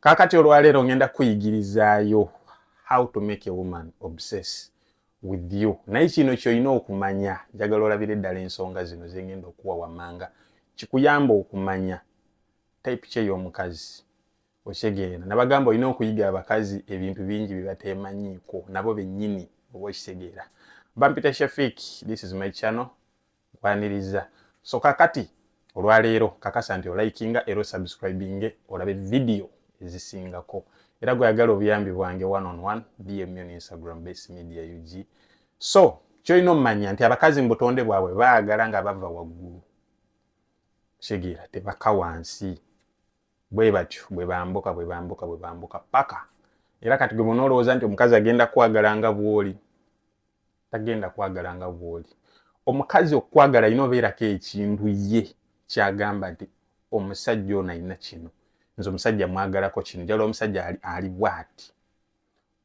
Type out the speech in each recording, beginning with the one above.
Kakati olwaleero ngenda kukuyigirizaayo how to make a woman obsess with you naye kino kyolina okumanya njagala olabire ddala ensonga zino zengenda okuwa wamanga kikuyamba okumanya type kye y'omukazi okitegeera nabagamba olina okuyiga abakazi ebintu bingi byebatemanyiiko nabo bennyini oba okitegeera bampita shafik this is my channel nkwaniriza so kakati olwaleero kakasa nti olikinga era osubscribinge olabe vidiyo ezisingako era gweyagala obuyambi bwange one on one dm on instagram base media ug so kyolina omumanya nti abakazi mu butonde bwabwe baagala nga bava waggulu kitegeera tebaka wansi bwe batyo bwe bambuka bwe bambuka bwe bambuka paka era kati gwe bona olowooza nti omukazi agenda kwagala nga bwoli tagenda kwagala nga bwoli omukazi okukwagala alina obeerako ekintu ye kyagamba nti omusajja ono alina kino nze omusajja mwagalako kino jala omusajja ali bwati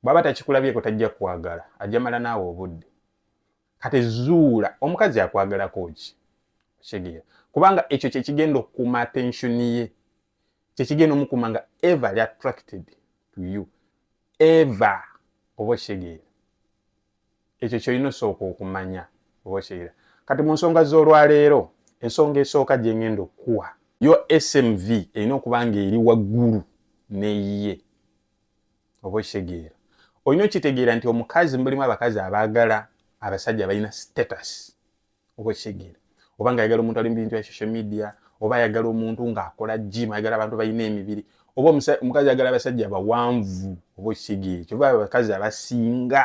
bwaba takikulabyeko tajja kwagala ajamala naawe obudde kati zuula omukazi akwagalako ki kitegeera kubanga ekyo kyekigenda okukuuma attention ye kyekigenda omukuma nga ever li attracted to you ever oba okitegeera ekyo kyolina osooka okumanya oba okitegeera kati mu nsonga z'olwaleero ensonga esooka gyengenda okukuwa yo smv erina okuba nga eri waggulu neyiye oba okitegeera olina okitegeera nti omukazi mulimu abakazi abaagala abasajja balina status oba ekitegeera oba nga ayagala omuntu ali mubintu ya social media oba ayagala omuntu nga akola gym ayagala abantu balina emibiri oba omukazi ayagala abasajja abawanvu oba ekitegeera kyoba abakazi abasinga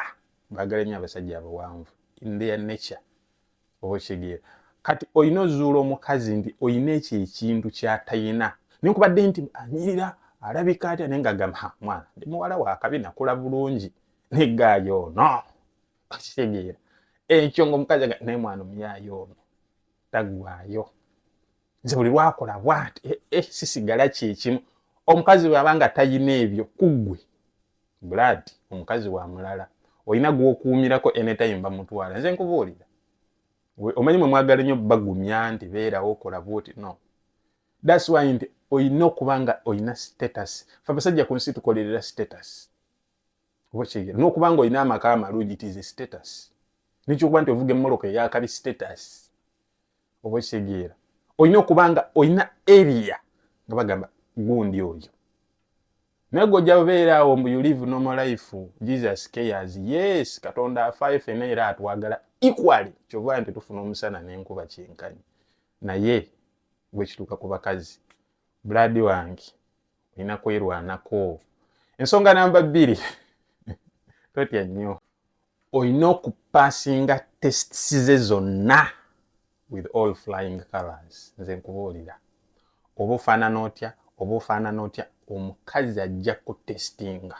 bagala nyo abasajja abawanvu in their nature oba ekitegeera kati olina ozuula omukazi nti olina ekyo ekintu kyatayina nenkubadde nti anyirira alabika atya naye nga gamba mwana ndi muwala wakabi nakula bulungi negaayo no okitegeera ekyo ngaomukazi aga naye mwana omuyaayo ono taggwayo nze buli lwakola bwati eh, eh, sisigala kyekimu omukazi bwaba nga tayina ebyo kuggwe blood omukazi wa mulala olina gwokuumirako anytime bamutwala nze nkubuulira omanyi mwe mwagala nnyo bagumya nti beerawo okola bwoti no thats why nti olina okuba nga olina status fe abasajja ku nsi tukolerera status obakitegera nokuba nga olina amaka amalungi it is a status nekyokuba nti ovuga emmoloka eyakabi status oba okitegeera olina okuba nga olina area nga bagamba gundi oyo naye gwe ojja beera awo mbu you live normal life jesus cares yes katonda afaayo fena era atwagala equally kyova nti tufuna omusana nenkuba kyenkanyi naye bwekituuka ku bakazi buladi wange olina kwerwanako ensonga namba bbiri totya nnyo olina okupasinga tests ze zonna with all flying colors nze nkubuulira oba ofaanana otya oba ofaanana otya omukazi ajja kutestinga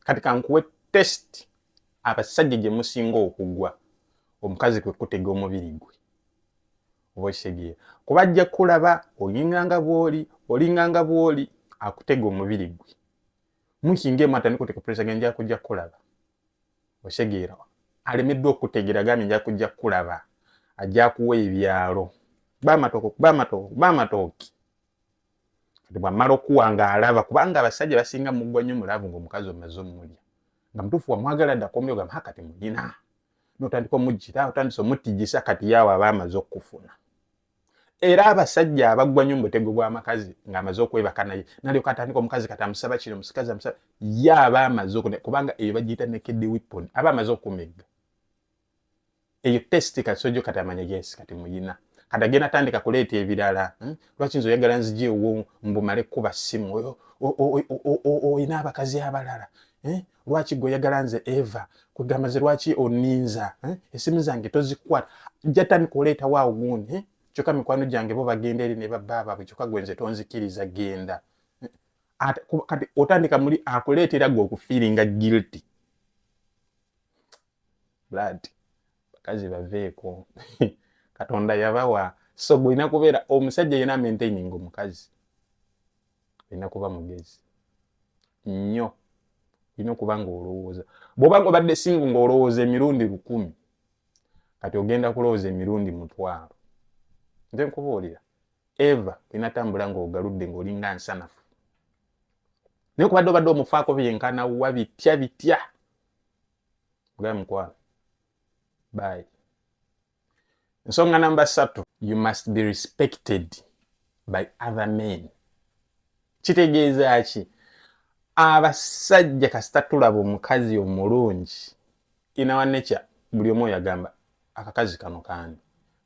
kati kankuwe test abasajja gye musinga okugwa omukazi kwe kutega omubiri gwe oba okitegeera kuba ajja kulaba oyinganga bwoli olinganga bwoli akutega omubiri gwe mukinga emu atandika oteka puresa ge nja kujja kulaba okitegeera alemeddwa okutegeera gambye nja kujja kulaba ajja kuwa ebyalo kuba amatooke kuba amatooke kuba amatooke kati bwamala okuwa nga alaba kubanga abasajja basinga mugwa nnyo mulavu ngaomukazi omaze omulya nga mutuufu wamwagala dda kombyogamba hakati mulina notandika omujjira otandise omutijisa kati yaawe aba amaze okufuna era abasajja abagwa nyo mubutego bwamakazi ngaamaze okwebaka naye nalyoka atandika omukazi kati amusaba kino musikazi amusaba ye aba amaze okune kubanga eyo bagiyita nekedi wipon aba amaze okumegga eyo test kati sojo kati amanya yes kati muyina kati agenda atandika kuleeta ebirala hmm? lwaki nze oyagala nzija ewo mbumale kukuba simu oyina abakazi abalala eh? lwaki gwe oyagala nze eva kwegamba ze lwaki oninza eh? esimu zange tozikwata jatandika oleetawo awo gundi eh? kyokka mikwano gyange bo bagenda eri ne babba baabwe kyokka gwe nze tonzikiriza genda eh? kati otandika muli akuleetera gwe okufiiringa guilty blood bakazi baveeko katonda yabawa so gwe olina kubeera omusajja yena maintaining omukazi olina kuba mugezi nnyo olina okuba nga olowooza bwoba nga obadde singu nga olowooza emirundi lukumi kati ogenda kulowooza emirundi mutwalo nze nkubuulira eva olina tambula nga ogaludde nga olinga nsanafu naye kubadde obadde omufaako byenkana wa bitya bitya ogaa mukwano bye nsonga namba satu you must be respected by other men kitegeeza ki abasajja kasita tulaba omukazi omulungi inawanekya buli omu oyo agamba akakazi kano kani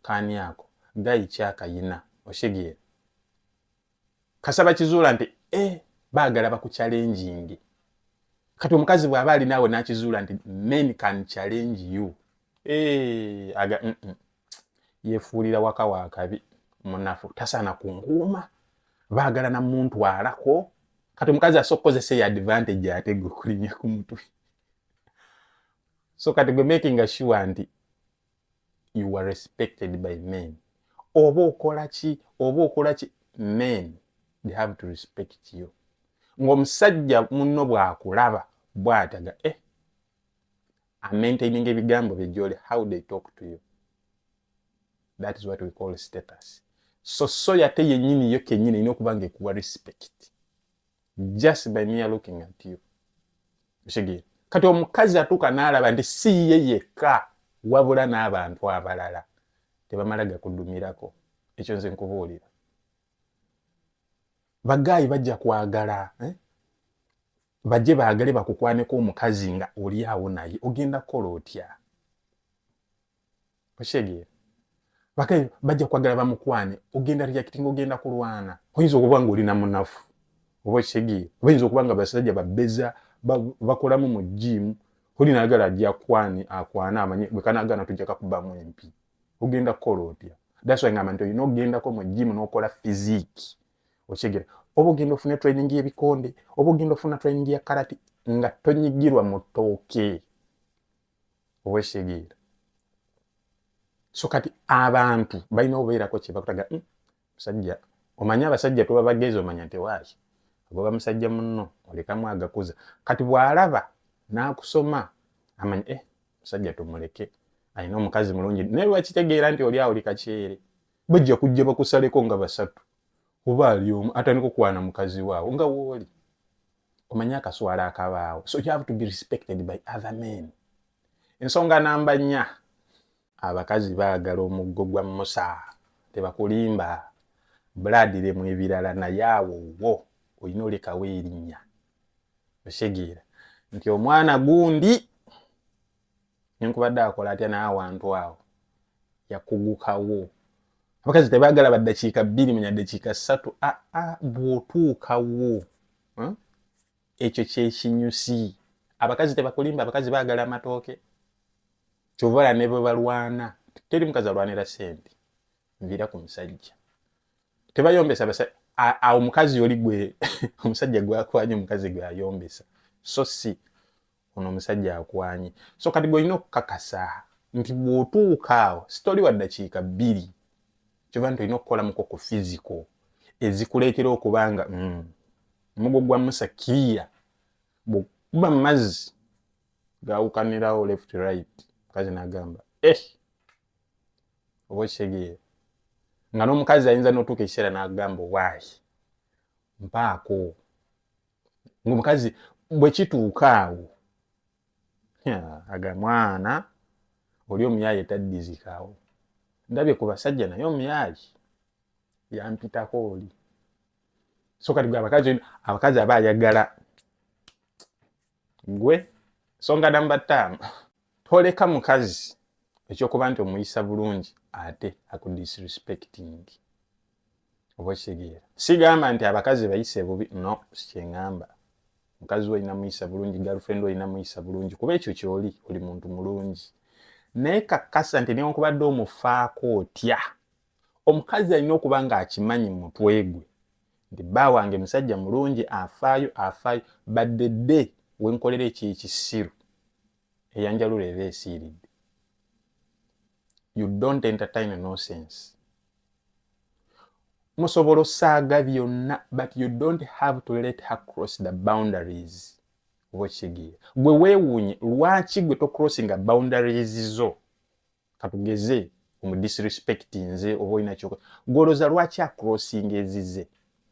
kani ako gayi kyakayina oshegere kasa bakizuula nti e baagala bakucalenjinge kati omukazi bw'aba ali naawe n'akizuula nti men can challenge you eh, aga mm -mm. yefuulira waka wakabi munafu tasaana kunkuuma baagala na muntu alako kati omukazi asobola okukozesa eyo advantage ate gwe okulinya ku mutwe so kati gwe making sure nti you were respected by men oba okola ki oba okola ki men they have to respect you ng'omusajja munno bw'akulaba bw'ataga eh amaintaininga ebigambo bye gyoli how they talk to you that is what we call status so soya te yennyini yo kennyini erina okuba nga ekuwa respect just by mere looking at you okitegere kati omukazi atuuka n'alaba nti si ye yekka wabula n'abantu abalala tebamala gakudumirako ekyo nze nkubuulira bagaayi bajja kwagala eh? bajje baagale bakukwaneko omukazi nga oli awo naye ogenda kukola otya okitegeera bakayo bajja kwagala bamukwane ogenda reacting ogenda kulwana oyinza okuba nga olina munafu oba okitegeera oba yinza okuba nga basajja babeza bakolamu mu jiimu oli nagala ajja kwani akwana amanye bwekanagana tujja kakubamu empi ogenda kukola otya daswa ngamba nti olina okugendako mu jiimu nokola fiziki okitegeera oba ogenda ofuna training yebikonde oba ogenda ofuna training ya karati nga tonyigirwa mu tooke owekitegeera so kati abantu balina obeerako kyebakutaga hmm, musajja omanyi abasajja tuba bagezi omanya nti waaki agoba musajja munno olekamu agakuza kati bwalaba nakusoma amanya eh musajja tumuleke alina omukazi mulungi naye lwakitegeera nti oli awuli kakyere bajja kujja bakusaleko nga basatu oba ali omu atandika okwana mukazi waawo nga wooli omanyi akaswala akabaawo so you have to be respected by other men ensonga namba nnya abakazi baagala omuggo gwa musa tebakulimba bulaadire mu ebirala naye awo wo olina olekawo erinnya osegeera nti omwana gundi nenkubadde akola atya naye awantu awo yakugukawo abakazi tebagala baddakiika bbiri manya ddakiika ssatu aa ah, ah, bwotuukawo hmm? ekyo kyekinyusi abakazi tebakulimba abakazi bagala amatooke kyovala ne bwe balwana teri mukazi alwanira sente nvira ku musajja tebayombesa awo mukazi oli gwe omusajja gwakwanya omukazi gwe ayombesa so si ono omusajja akwanye so kati gweolina okukakasa nti bwotuuka awo sitoli wa ddakiika bbiri kyoba nti olina okukolamuko ku fiziko ezikuleetera okuba nga mm, omugo gwa musa kiriya bwekuba mu mazzi gawukanirawo left right mukazi nagamba eh oba okitegeera nga n'omukazi ayinza n'otuuka ekiseera n'agamba waayi mpaako ngaomukazi bwekituuka awo aga mwana oli omuyaye taddizikawo ndabye ku basajja naye omuyaye yampitako oli so kati gwe abakazi abakazi aba ayagala gwe songa namba ttaano toleka mukazi ekyokuba nti omuyisa bulungi ate akudisrespecting oba okitegeera sigamba nti abakazi bayise bubi no sikyeŋamba mukazi olina muyisa bulungi galfrend olina muyisa bulungi kuba ekyo kyoli oli muntu mulungi naye kakkasa nti newankubadde omufaako otya omukazi alina okuba ng'akimanyi mu mutwe gwe nti bba wange musajja mulungi afaayo afaayo badde dde wenkolera ekyekisiru eyanjalula eba esiiridde you don't entertain nonsense musobola osaaga byonna but you don't have to let her cross the boundaries oba okitegeera gwe weewuunye lwaki gwe tocrossinga boundaries zo katugeze omu disrespect nze oba olina kyoka gwoloza lwaki acrossing ezize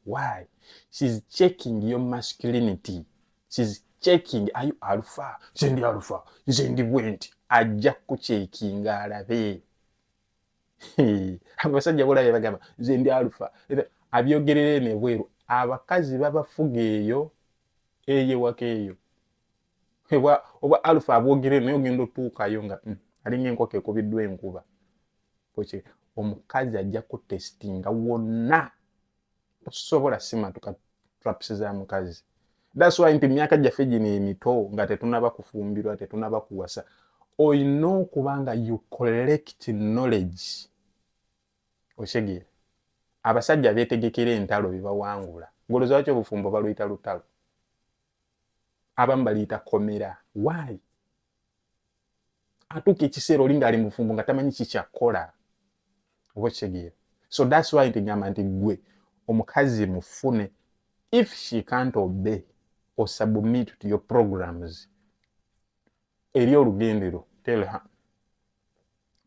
why shes checking your masculinity shes checking are you alpha nze ndi alpha nze ndi bwenti ajja kukukyekinga alabe abasajja bolabe bagamba nze ndi alpha abyogerere nebweru abakazi babafuga eyo eyewaka eyo obwa obwa alpha abwogere naye ogenda otuukayo nga mm, alinga enkoko ekubiddwa enkuba oky omukazi ajja kutestinga wonna tosobola simatuka traps za mukazi that's why nti myaka gyaffe gino emito nga tetunaba kufumbirwa tetunaba kuwasa olina okuba nga you collect knowledge okitegeera abasajja betegekera entalo bebawangula ngolozawaki obufumbo baluyita lutalo abamu baliyita komera why atuuka ekiseera oli ngaali mufumbo nga tamanyi kikyakkola oba okitegeera so thats why ntigamba nti gwe omukazi mufune if she can't obey or submit to your programs eri olugendero tell her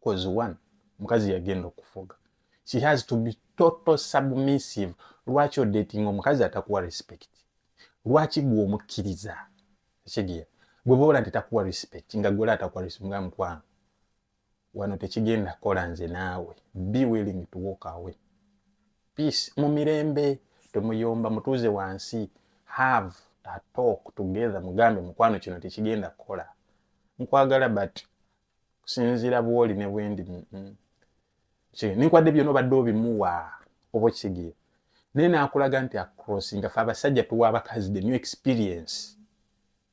cause one mukazi yagenda okufuga she has to be total submissive lwaki odating omukazi atakuwa respect lwaki gwe omukkiriza ekigiya gwe boola nti takuwa respect nga gwe atakuwa respect nga mukwano wano tekigenda kola nze naawe be willing to walk away peace mu mirembe temuyomba mutuuze wansi have a talk together mugambe mukwano kino tekigenda kukola nkwagala but kusinziira bwoli ne bwendi mm, mm. ninkwadde byona obadde obimuwa oba okitegeera naye nakulaga nti across nga fe abasajja tuwa abakazi the new experience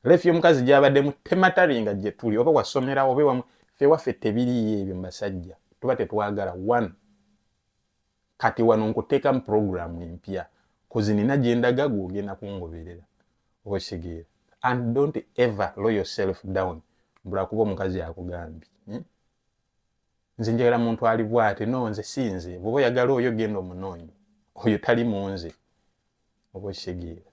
leefi y'omukazi gyabademu temataringa gye tuli oba wasomerawo oba ewamu fe waffe tebiriyo ebyo basajja tuba tetwagala one kati wano nkuteekamu puroguramu empya kozi nina gye ndaga gwogenda kungoberera oba okitegeera and don't ever low yourself down mbulakuba omukazi akugambye hmm? nze njagala muntu ali bwate no nze si nze bwoba oyagala oyo genda omunoonyi oyo tali mu nze oba okitegeera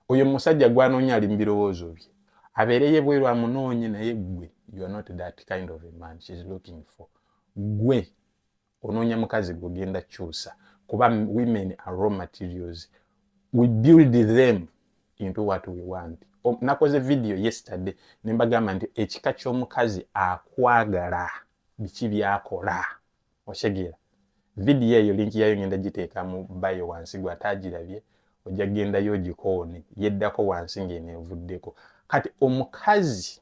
oyo musajja gwanoonya ali mubirowoozo bye abeereye bweru amunoonye naye gwe you are not that kind of a man she's looking for gwe onoonya mukazi gwe ogenda kyusa kuba women are raw materials we build them into what we want nakoze video yesterday nembagamba nti ekika ky'omukazi akwagala biki byakola okitegeera vidiyo eyo linki yayo ngenda giteeka mu bayo wansi gwe ataagirabye ojja kugendayo ogikoone yeddako wansi ng'eno evuddeko kati omukazi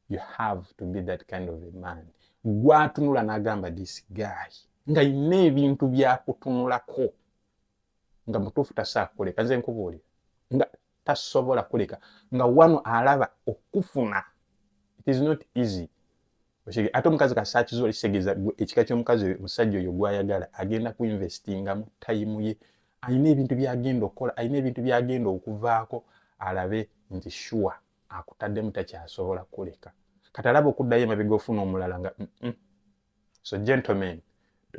you have to be that kind of a man gwatunula n'agamba this guy nga yina ebintu byakutunulako nga mutuufu tasaakukoleka nze nkubuulira nga tasobola kuleka nga wano alaba okufuna it is not easy ate omukazi kasakizuba kitegeza ekika kyomukazi oyo omusajja oyo gwayagala agenda kuinvestinga mu tayimu ye alina ebintu byagenda okukola alina ebintu byagenda okuvaako alabe nti shuwa akutaddemu takyasobola kuleka kati alaba okuddayo emabega ofuna omulala nga mm -mm. so gentlemen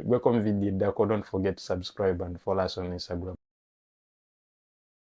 gweko mu vidiyo eddako don't forget to subscribe and follow us on instagram